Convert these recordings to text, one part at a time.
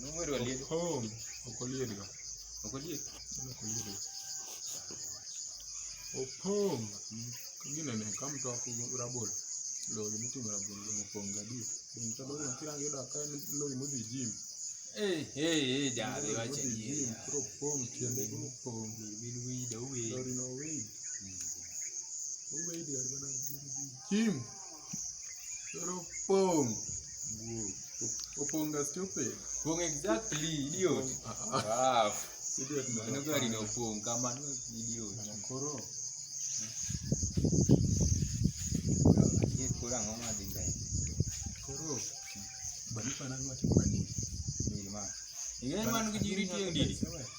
Numero aliego. Oh, okoliego. Okoliego. Okoliego. Opong. Kingine ne kam to ku rabol. Lo ni tu rabol lo opong gadi. Bin ta bolo kira yo da kan lo ni mudi jim. Eh eh eh ja de wa che ni. Jim pro pong tiende ku pong. Bin wi da wi. Lo ni no wi. Wi de bana jim. Jim. Koro pong. Oponga stupid. Pong exactly idiot. Ah. Idiot man. Ano gari no pong kama no idiot. Mana koro. Ye kora ngo ma dhi mbele. Koro. Bari pana ngwacho kwa nini? Ni ma. Ing'e man gi jiri tieng' didi. Sewe.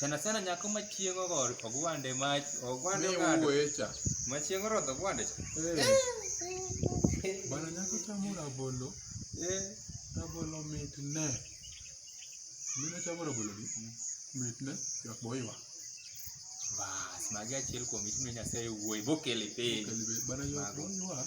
Sana sana nyako ma chieng' ogo ogwande ma ogwande Ni ogado. wuoye cha. Ma chieng' orodho ogwande cha. Eh. Bana nyako chamo rabolo. Eh. Rabolo mit ne. Mine chamo rabolo gi. Mit ne. Jak boiwa. Bas, magi achiel kuom it mine Nyasaye wuoyi bokele piny. Bana jak Mago. boiwa.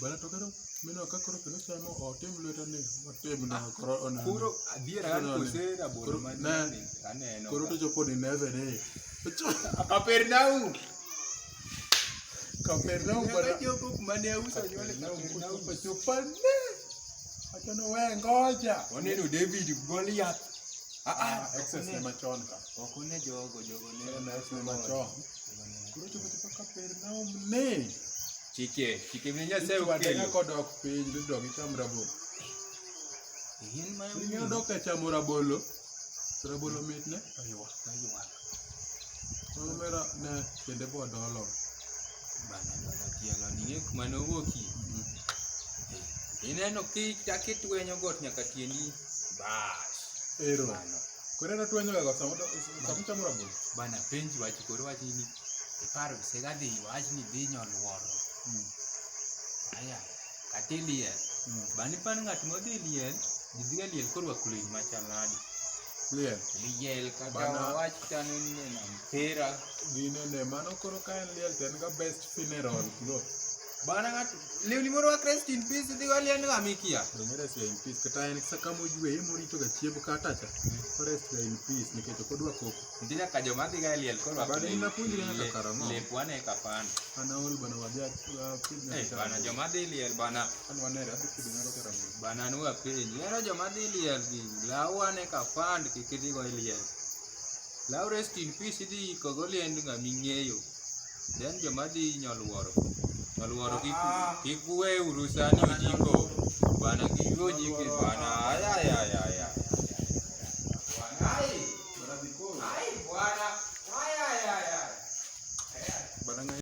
Bana to koro mino ka koro kendo sano otim lweta ni otim na koro ona. Koro adier an kosera bolo ma ni aneno. Koro to jopo ni neve ni. Kapernaum. Kapernaum bana. Jopo ma ne usa nyole Kapernaum pa chopa ne. Acha no we ngoja. Oneno David Goliath. Ah ah, excess ne machon ka. Ok one jogo jogo ne. Excess ne machon. Koro chopo chopo Kapernaum ne. Chike, chike vile Nyasaye Yesu adega okelo. kodok piny dodok icham rabolo. In ma Ing'eyo dok e chamo rabolo. Rabolo mit ne. Oyiwa, oyiwa. Mano mera ne kende bo dolo. Bana bana tielo ni ng'e kuma nowuoki. Ineno ki chaki twenyo got nyaka tiendi. Bas. Ero. Bano. Kore na tuanyo ga samu samu chamu rabu. Bana penji wachi kore wachi ni iparo sega di wachi ni di nyon woro. Hmm. Aya katili ye. Hmm. Bani pan ngat mo di ye. Dibiga ye kore wa kulin ma chanadi. Ye. Ye ka bana wachi tanu ni na mpira. Dine ne mano kore kaen ye ten ga best funeral lo. Bana ng'ato lewni moro wak rest in peace dhi wali en ng'ama ikia. Donge rest in peace kata en sa kama oywe yemo rito ga chiemb kata cha. O rest ga in peace nikech ok odwa koko. Ndina ka joma dhi ga liel koro wak. Bana ina puonjre nyaka karamo. Le kwane ka pan. Ana ol bana wadhi apinja. Eh bana joma dhi liel bana. An wanere adhi kido nyaka karamo. Bana nu apinji. Yero joma dhi liel gi lawane ka pan kikidhi go liel. Law rest in peace idhi iko go liend ng'ama ing'eyo. Then joma dhi nyoluoro, nyoluoro kik kik uwe uru sani ojiko. Bana kik uwe ojiko bana. Ay ay ay ay ay. Bana ngai.